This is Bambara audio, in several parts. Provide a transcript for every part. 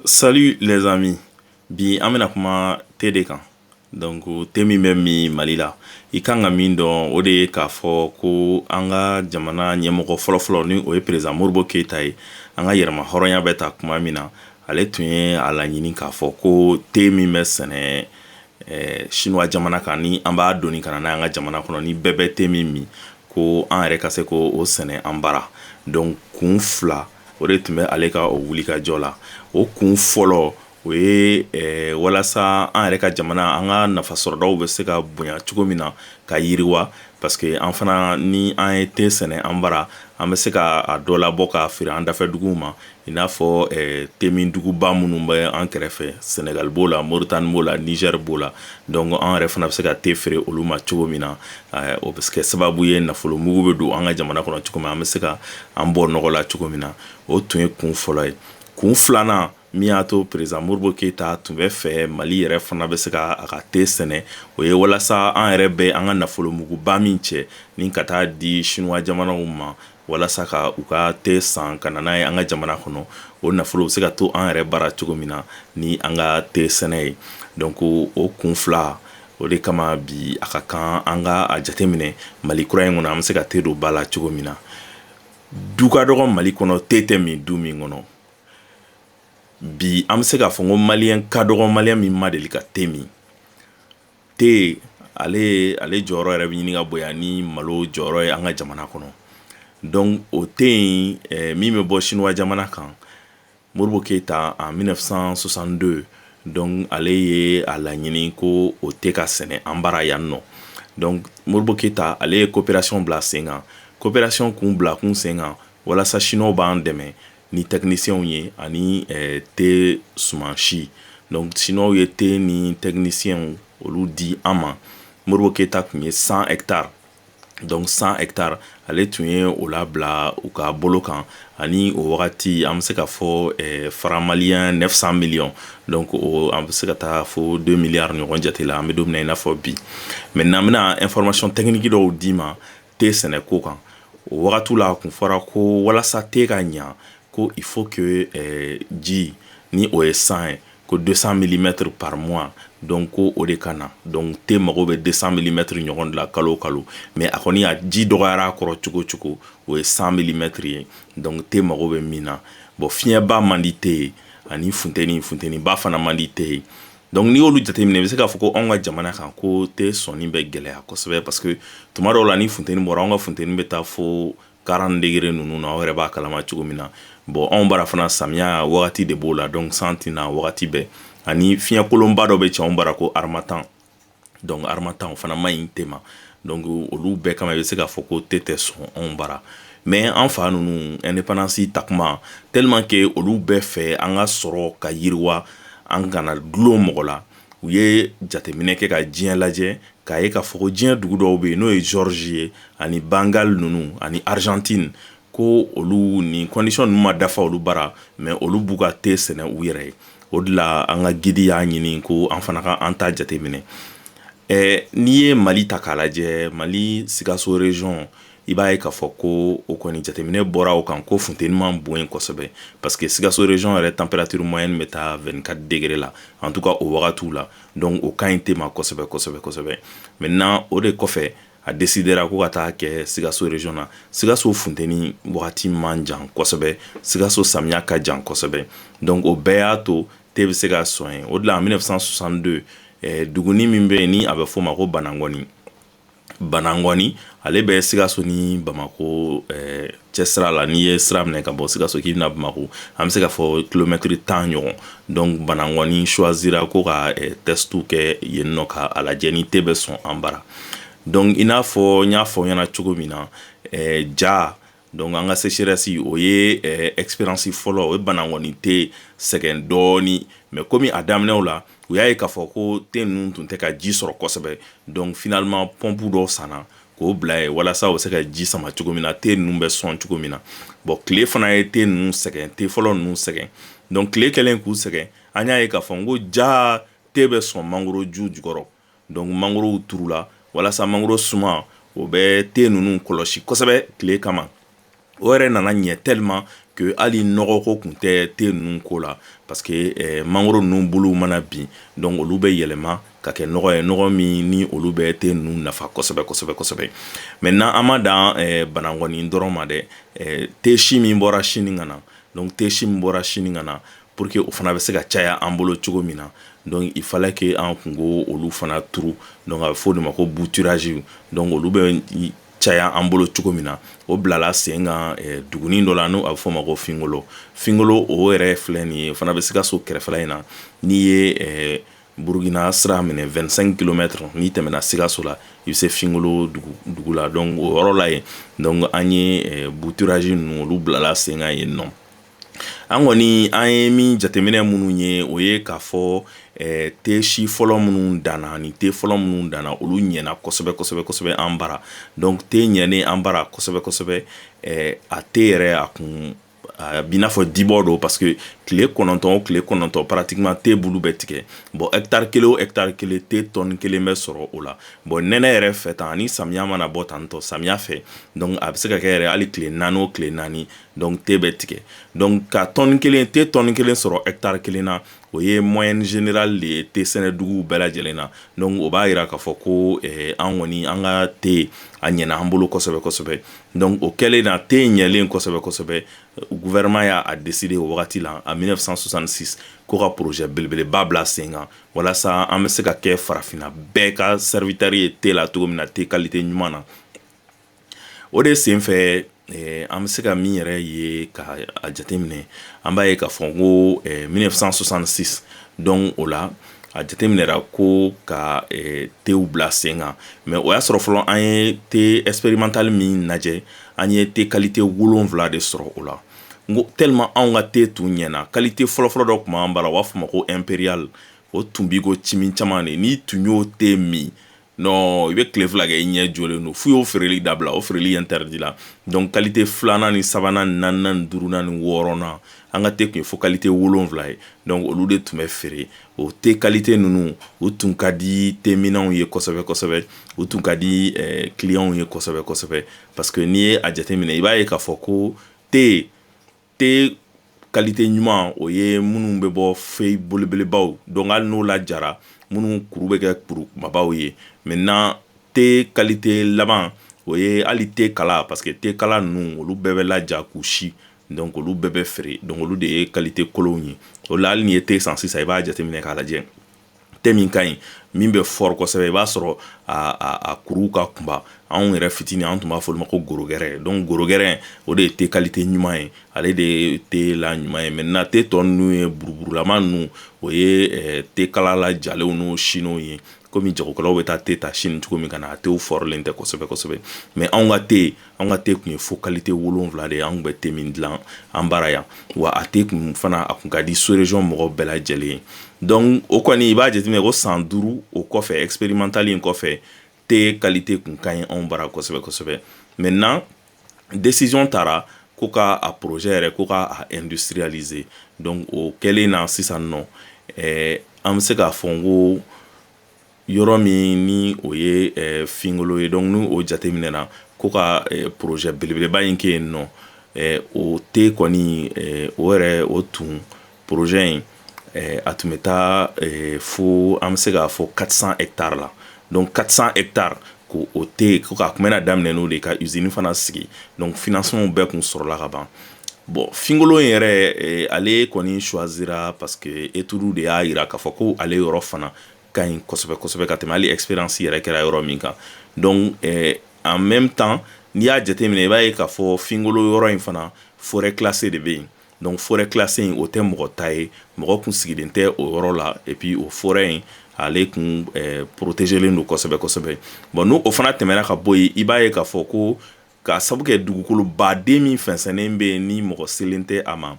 Salut les amis bi an bɛna kuma te de kan donc te min bɛ min mali la i kan ka min dɔn o de ye k'a fɔ ko an ka jamana ɲɛmɔgɔ fɔlɔfɔlɔ ni o ye président Modibo Keyita ye an ka yɛrɛmahɔrɔnya bɛ ta kuma min na ale tun ye a laɲini k'a fɔ ko te min bɛ sɛnɛ sinuwa jamana kan ni an b'a doni ka na n'a ye an ka jamana kɔnɔ ni bɛɛ bɛ te min min ko an yɛrɛ ka se ko o sɛnɛ an bara donc kun fila o de tun bɛ ale ka o wulikajɔ la o kun fɔlɔ o ye eh, walasa an yɛrɛ ka jamana an ka nafasɔrɔdaw bɛ se ka bonya cogo min na ka yiriwa parce que an fana ni an ye te sɛnɛ an bara an bɛ se ka a dɔ labɔ k'a feere an dafɛ duguw ma i n'a fɔ eh, te min duguba minnu bɛ an kɛrɛfɛ senegal b'o la moritani b'o la niger b'o la donc an yɛrɛ fana bɛ se ka te feere olu ma cogo min na o bɛ kɛ sababu ye nafolo mugu bɛ don an ka jamana kɔnɔ cogo min an bɛ se ka an bɔ nɔgɔ la cogo min na o tun ye kun fɔlɔ ye kun filanan min y'a to président Modibo Keyita tun bɛ fɛ mali yɛrɛ fana bɛ se ka a ka te sɛnɛ o ye walasa an yɛrɛ bɛ an ka nafolo muguba min cɛ ni ka taa di sinuwa jamanaw ma walasa ka u ka te san ka na n'a ye an ka jamana kɔnɔ o nafolo bɛ se ka to an yɛrɛ bara cogo min na ni an ka te sɛnɛ ye donc o kun fila o de kama bi a ka kan an ka a jateminɛ mali kura in kɔnɔ an bɛ se ka te don ba la cogo min na du ka dɔgɔ mali kɔnɔ te tɛ min du min kɔnɔ bi an bɛ se k'a fɔ ko maliyɛn ka dɔgɔ maliyɛn min ma deli ka te min te ale jɔyɔrɔ yɛrɛ bɛ ɲini ka bonya ni malo jɔyɔrɔ ye an ka jamana kɔnɔ donc o te in eh, min bɛ bɔ sinuwa jamana kan Modibo Keyita en 1962 donc ale ye a laɲini ko o te ka sɛnɛ an bara yan nɔ donc Modibo Keyita ale ye kopɛrasiyɔn bila sen kan kopɛrasiyɔn kun bila kun sen kan walasa sinuwaw b'an dɛmɛ ni techniciens ye ani te sumansi donc sinuwaw ye te ni techniciens olu di an ma Modibo Keyita tun ye 100 hectares donc 100 hectares ale tun ye o labila u ka bolo kan ani o wagati an bɛ se k'a fɔ eh, franc malien 900 millions donc an bɛ se ka taa fo 2 milliards ɲɔgɔn jate la an bɛ don min na i n'a fɔ bi maintenant n bɛna information technique dɔw d'i ma te sɛnɛko kan o wagati la a tun fɔra ko walasa te ka ɲa ko il faut que eh, ji ni o ye san ye ko 200 milimɛtiri par mois donc ko o de ka na donc te mago bɛ 200 milimɛtiri ɲɔgɔn de la kalo kalo mais a kɔni a ji dɔgɔyara kɔrɔ cogo cogo o ye 100 milimɛtiri ye donc te mago bɛ min na bon fiɲɛba man di te ye ani funteni funteniba fana man di te ye donc n'i y'olu jateminɛ i bɛ se k'a fɔ ko anw ka jamana kan ko te sɔnni bɛ gɛlɛya kosɛbɛ parce que tuma dɔw la ni funteni bɔra an ka funteni bɛ taa fo 40 degré ninnu na aw yɛrɛ b'a kalama cogo min na bon anw bara fana samiya wagati de b'o la donc san tɛ na wagati bɛɛ ani fiɲɛ kolonba dɔ bɛ cɛ anw bara ko harmattan donc harmattan o fana man ɲi te ma donc olu bɛɛ kama i bɛ se k'a fɔ ko te tɛ sɔn anw bara mais an fa ninnu indépendance ta kuma tellement que olu bɛɛ fɛ an ka sɔrɔ ka yiriwa an kana dulon mɔgɔ la u ye jateminɛ kɛ ka diɲɛ lajɛ k'a ye k'a fɔ ko diɲɛ dugu dɔw bɛ yen n'o ye géorgie ye ani bengale ninnu ani argentine ko olu ni condition ninnu ma dafa olu bara mais olu b'u ka te sɛnɛ u yɛrɛ ye o de la an ka guide y'a ɲini ko an fana ka an ta jateminɛ n'i ye mali ta k'a lajɛ mali sikaso region i b'a ye k'a fɔ ko o kɔni jateminɛ bɔra o kan ko funteni man bon yen kosɛbɛ parce que sikaso region yɛrɛ température moyenne bɛ taa 24 degré la en tout cas o wagatiw la donc o ka ɲi te ma kosɛbɛ kosɛbɛ kosɛbɛ maintenant o de kɔfɛ a décidera ko ka taa kɛ sikaso region na sikaso funteni wagati man jan kosɛbɛ sikaso samiya ka jan kosɛbɛ donc o bɛɛ y'a to te bɛ se ka sɔn yen o de la en 1962 eh, duguni min bɛ yen ni a bɛ f'o ma ko banangɔni banangɔni ale bɛ sikaso ni bamakɔ eh, cɛ sira la n'i ye sira minɛ ka bɔ sikaso k'i bɛ na bamakɔ an bɛ se k'a fɔ kilomɛtiri tan ɲɔgɔn donc banangɔni choisira ko ka eh, test kɛ yen nɔ ka a lajɛ ni te bɛ sɔn an bara donc i n'a fɔ n y'a fɔ ɲɛna cogo min na eh, ja Donc an ka sécheresse o ye expérience fɔlɔ o ye banangɔni te sɛgɛn dɔɔnin mais kɔmi a daminɛw la u y'a ye k'a fɔ ko te ninnu tun tɛ ka ji sɔrɔ kosɛbɛ donc finalement pompe dɔw sanna k'o bila yen walasa u bɛ se ka ji sama cogo min na te ninnu bɛ sɔn cogo min na bon tile fana ye te ninnu sɛgɛn te fɔlɔ ninnu sɛgɛn donc tile kɛlen k'u sɛgɛn an y'a ye k'a fɔ n ko jaa te bɛ sɔn mangoro ju jukɔrɔ Donc mangorow turula walasa mangoro suma o bɛ te ninnu kɔlɔsi kosɛbɛ tile kama o yɛrɛ nana ɲɛ tellement que hali nɔgɔ ko kun tɛ te ninnu ko la parce que eh, mangoro ninnu bulu mana bin donc olu bɛ yɛlɛma ka kɛ nɔgɔ ye nɔgɔ min ni olu bɛ te ninnu nafa kosɛbɛ kosɛbɛ kosɛbɛ maintenant an ma dan eh, banangɔni dɔrɔn ma dɛ eh, te si min bɔra sini ka na donc te si min bɔra sini ka na pour que o fana bɛ se ka caya an bolo cogo min na donc il fallait que an kun k'olu fana turu donc a bɛ fɔ o de ma ko bouturage donc olu bɛ caya an bolo cogo min na o bilala sen kan eh, dugunin dɔ la n'o a bɛ f'o ma ko fingolo fingolo o yɛrɛ filɛ nin ye o fana bɛ sikaso kɛrɛfɛla in na n'i ye eh, burukina sira minɛ 25 kilomètre n'i tɛmɛna sikaso la i bɛ se fingolo dugu la donc o yɔrɔ la yen donc an ye eh, bouturage ninnu olu bilala sen kan yen nɔ An kɔni an ye min jateminɛ minnu ye o ye k'a fɔ te si fɔlɔ minnu danna ni te fɔlɔ minnu danna olu ɲɛna kosɛbɛ kosɛbɛ kosɛbɛ an bara donc te ɲɛnen an bara kosɛbɛ kosɛbɛ a te yɛrɛ a kun a b'i n'a fɔ dibɔ don parce que tile kɔnɔntɔn o tile kɔnɔntɔn pratiquement te bulu bɛ tigɛ bon hectare kelen o hectare kelen te tɔni kelen bɛ sɔrɔ o la bon nɛnɛ yɛrɛ fɛ tan ni samiya mana bɔ tan tɔ samiya fɛ donc a bɛ se ka kɛ yɛrɛ hali tile naani o tile naani donc te bɛ tigɛ donc ka tɔni kelen te tɔni kelen sɔrɔ hectare kelen na o ye moyenne générale de ye te sɛnɛduguw bɛɛ lajɛlen na donc o b'a yira k'a fɔ ko an kɔni an ka te a ɲɛna an bolo kosɛbɛ kosɛbɛ donc o kɛlen na te ɲɛlen kosɛbɛ kosɛbɛ gouvernement y'a décidé o wagati la en mille neuf cent soixante-six ko ka projet belebeleba bila sen kan walasa an bɛ se ka kɛ farafinna bɛɛ ka serviteur ye te la cogo min na te qualité ɲuman na o de senfɛ an bɛ se ka min yɛrɛ ye ka a jateminɛ an b'a ye k'a fɔ ko mille neuf cent soixante-six donc o la a jateminɛra ko ka tew bila sen kan mais o y'a sɔrɔ fɔlɔ an ye te expérimental min lajɛ an ye te qualité wolonwula de sɔrɔ o la n ko tellement anw ka te tun ɲɛna qualité fɔlɔfɔlɔ dɔ tun b'an bara u b'a fɔ ma ko impérial o tun b'i ko cimi caman de n'i tun y'o te min non i bɛ tile fila kɛ i ɲɛ jɔlen don f'u y'o feereli dabila o feereli interdit la donc qualité filanan ni sabanan ni naaninan ni duurunan ni wɔɔrɔnan an ka te tun ye fo qualité wolonwula ye donc olu de tun bɛ feere o te qualité ninnu u tun ka di teminnaw ye kosɛbɛ kosɛbɛ u tun ka di eh, clientw ye kosɛbɛ kosɛbɛ parce que n'i ye a jateminɛ i b'a ye k'a fɔ ko te te qualité ɲuman o ye minnu bɛ bɔ feuille belebelebaw donc hali n'o lajara minnu kuru bɛ kɛ kuru kumabaw ye maintenant te qualité laban o ye hali te kala parce que te kala ninnu olu bɛɛ bɛ laja k'u si donc olu bɛɛ bɛ feere donc olu de ye qualité kolonw ye o la hali n'i ye te san sisan i b'a jateminɛ k'a lajɛ te min ka ɲi min bɛ fort kosɛbɛ i b'a sɔrɔ a kuruw ka kunba anw yɛrɛ fitinin an tun b'a fɔ olu ma ko gros grain donc gros grain o de ye te qualité ɲuman ye ale de ye te la ɲuman ye maintenant te tɔ ninnu ye buruburulama ninnu o ye te kala lajalenw n'o silenw ye kɔmi jagokɛlaw bɛ taa te ta Chine cogo min ka na a tew fɔrilen tɛ kosɛbɛ kosɛbɛ mais anw ka te yen an ka te tun ye fo qualité wolonwula de ye an kun bɛ te min dilan an bara yan wa a te kun fana a tun ka di sous-région mɔgɔ bɛɛ lajɛlen ye donc o kɔni i b'a jateminɛ ko san duuru o kɔfɛ expérimental in kɔfɛ te qualité kun ka ɲi anw bara kosɛbɛ kosɛbɛ maintenant décision taara ko ka a projet yɛrɛ ko k'a industrialiser donc o kɛlen na sisan nɔ an bɛ se k'a fɔ n ko yɔrɔ min ni o ye eh, finkolo ye donc ni o jateminɛna ko ka eh, projet belebeleba in kɛ yen nɔ eh, o te kɔni eh, o yɛrɛ o tun projet in eh, a tun bɛ taa eh, fo an bɛ se k'a fɔ 400 hectare la donc 400 hectare ko o te ko k'a kun bɛna daminɛ n'o de ka usine fana sigi donc financement bɛɛ kun sɔrɔla ka ban bon finkolo in yɛrɛ eh, ale kɔni choisira parce que étude de y'a yira k'a fɔ ko ale yɔrɔ fana ka ɲi kosɛbɛ kosɛbɛ ka tɛmɛ hali expérience yɛrɛ kɛra yɔrɔ min kan donc eh, en même temps n'i y'a jateminɛ i b'a ye k'a fɔ finkolo yɔrɔ in fana forêt classée de bɛ yen donc forêt classée in o tɛ mɔgɔ ta ye mɔgɔ kun sigilen tɛ o yɔrɔ la et puis o forêt in ale kun eh, protégelen don kosɛbɛ kosɛbɛ bon n'o o fana tɛmɛna ka bɔ yen i b'a ye k'a fɔ ko K'a sabu kɛ dugukoloba de min fɛnsɛnnen bɛ yen ni mɔgɔ selen tɛ a ma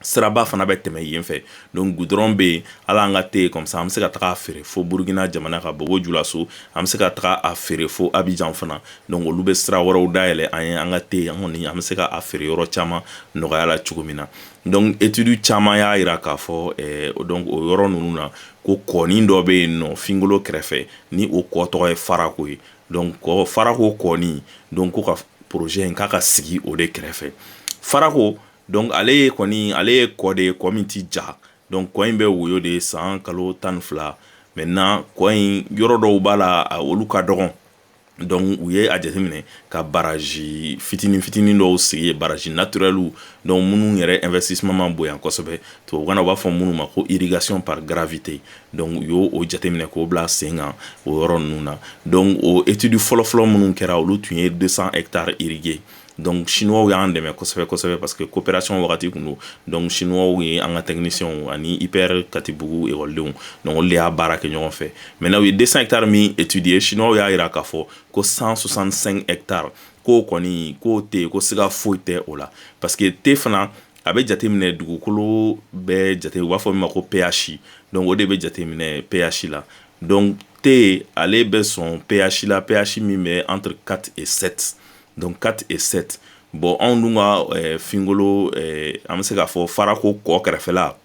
siraba fana bɛ tɛmɛ yen fɛ donc goudron bɛ yen o la an ka te in comme ça an bɛ se ka taga a feere fo burukina jamana ka bobo julaso an bɛ se ka taga a feere fo abijan fana donc olu bɛ sira wɛrɛw dayɛlɛ an ye an ka te an kɔni an bɛ se ka a feere yɔrɔ caman nɔgɔya la cogo min na donc étude caman y'a yira k'a fɔ donc o yɔrɔ ninnu na ko kɔnin dɔ bɛ yen nɔ finkolo kɛrɛfɛ ni o kɔ tɔgɔ ye farako ye donc kɔ farako kɔni donc ko ka projet in k'a ka sigi o de kɛrɛfɛ farako donc ale ye kɔni ale ye kɔ de ye kɔ min ti ja donc kɔ in bɛ woyo de san kalo tan ni fila maintenant kɔ in yɔrɔ dɔw b'a la olu ka dɔgɔn donc u ye a jateminɛ ka baraji fitinin fitinin dɔw sigi yen baraji naturɛliw donc minnu yɛrɛ investissement ma bonya kosɛbɛ tubabukan na u b'a fɔ minnu ma ko irrigation par gravité dɔnku u y'o o jateminɛ k'o bila sen kan o yɔrɔ ninnu na dɔnku o etudi fɔlɔfɔlɔ minnu kɛra olu tun ye dosan e taara irijɛ dɔnku siniw y'an dɛmɛ kosɛbɛ kosɛbɛ pa que kopererasɔn wagati tun don dɔnku siniw ye an ka tɛmɛiyɛnw ani ipr katibugu ekɔdenw nɔn de y'a baara kɛ ɲɔgɔn fɛ mɛ n' u ye desa e taara min etudi ye siniw y'a jira k'a fɔ ko san sɔsan e taara k'o kɔni k'o tɛ yen ko se foyi tɛ o la pa que te fana a bɛ jateminɛ dugukolo bɛɛ jate u b'a fɔ min ma ko pH donc o de bɛ jateminɛ pH la donc te ale bɛ sɔn pH la pH min bɛ entre 4 et 7 donc 4 et 7 bon anw dun ka finkolo an bɛ se k'a fɔ farako kɔ kɛrɛfɛla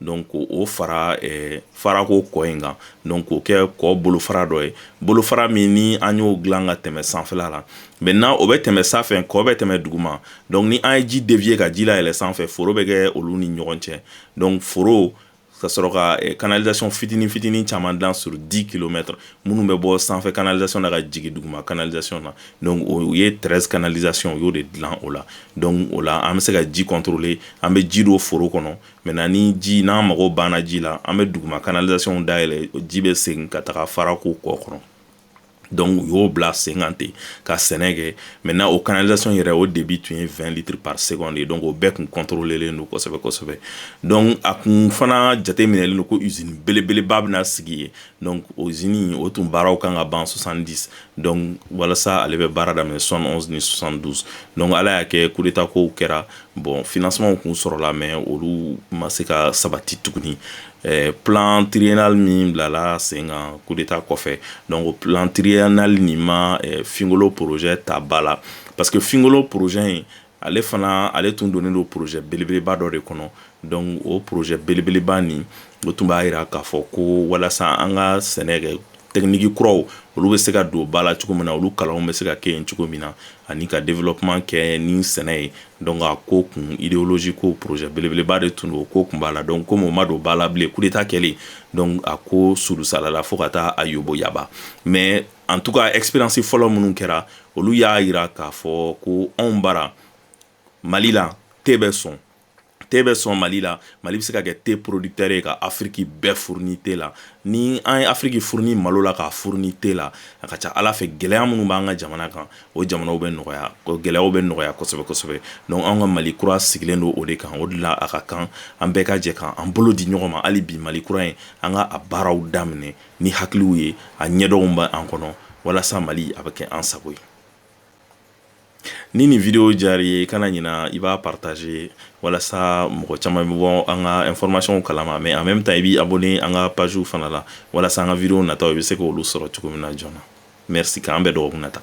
Donc o fara farako kɔ in kan donc o kɛ kɔ bolofara dɔ ye bolofara min ni an y'o dilan ka tɛmɛ sanfɛla la maintenant o bɛ tɛmɛ sanfɛ kɔ bɛ tɛmɛ duguma donc ni an ye ji dévier ka ji layɛlɛ sanfɛ foro bɛ kɛ olu ni ɲɔgɔn cɛ donc foro ka sɔrɔ ka canalisation fitinin fitinin caman dilan sur 10 kilomètre minnu bɛ bɔ sanfɛ canalisation na ka jigin duguma canalisation na donc u ye 13 canalisation u y'o de dilan o la donc o la an bɛ se ka ji contrôler an bɛ ji don foro kɔnɔ maintenant ni ji n'an mago banna ji la an bɛ duguma canalisationw dayɛlɛ ji bɛ segin ka taga farako kɔ kɔnɔ donc u y'o bila sen kan ten ka sɛnɛ kɛ maintenant o canalisation yɛrɛ o débit tun ye vingt litres par seconde ye donc o bɛɛ kun contrôlelen don kosɛbɛ kosɛbɛ donc a kun fana jateminɛlen don ko usine belebeleba bɛna sigi yen donc o usine o tun baaraw kan ka ban soixante-dix donc walasa ale bɛ baara daminɛ soixante-onze ni soixante-douze donc ala y'a kɛ coup d'état kow kɛra Bon financementw kun sɔrɔla mais olu ma se ka sabati tuguni plan triennal min bilala sen kan coup d'état kɔfɛ donc plan triennal nin ma finkolo projet ta ba la parce que finkolo projet in ale fana ale tun donnen don projet belebeleba dɔ de kɔnɔ donc o projet belebeleba nin o tun b'a jira k'a fɔ ko walasa an ka sɛnɛ kɛ technique kuraw olu bɛ se ka don ba la cogo min na olu kalanw bɛ se ka kɛ yen cogo min na ani ka développement kɛ ni sɛnɛ ye donc a ko kun idéologie ko projet belebeleba de tun don o ko kun b'a la donc comme o ma don ba la bilen coup d'état kɛlen donc a ko surusalala fo ka taa a yoboyaba mais en tout cas expérience fɔlɔ minnu kɛra olu y'a jira k'a fɔ ko anw bara mali la te bɛ sɔn te bɛ sɔn mali la mali bɛ se ka kɛ te producteur ye ka afiriki bɛɛ fourni te la ni an ye afiriki fourni malo la k'a fourni te la a ka ca ala fɛ gɛlɛya minnu b'an ka jamana kan o jamanaw bɛ nɔgɔya gɛlɛyaw bɛ nɔgɔya kosɛbɛ kosɛbɛ donc an ka mali kura sigilen don o de kan o de la a ka kan an bɛɛ ka jɛ ka an bolo di ɲɔgɔn ma hali bi mali kura ye an ka a baaraw daminɛ ni hakiliw ye a ɲɛdɔnw bɛ an kɔnɔ walasa mali a bɛ kɛ an sago ye Ni nin video diyara i ye, kana ɲina i b'a partager walasa mɔgɔ caaman bɛ bɔ an ka informationw kalama mais en même temps i b'i abonner an ka pages fana la walasa an ka video nataw i bɛ se k'olu sɔrɔ cogo min na joona. Merci k'an bɛn dɔgɔkun nata.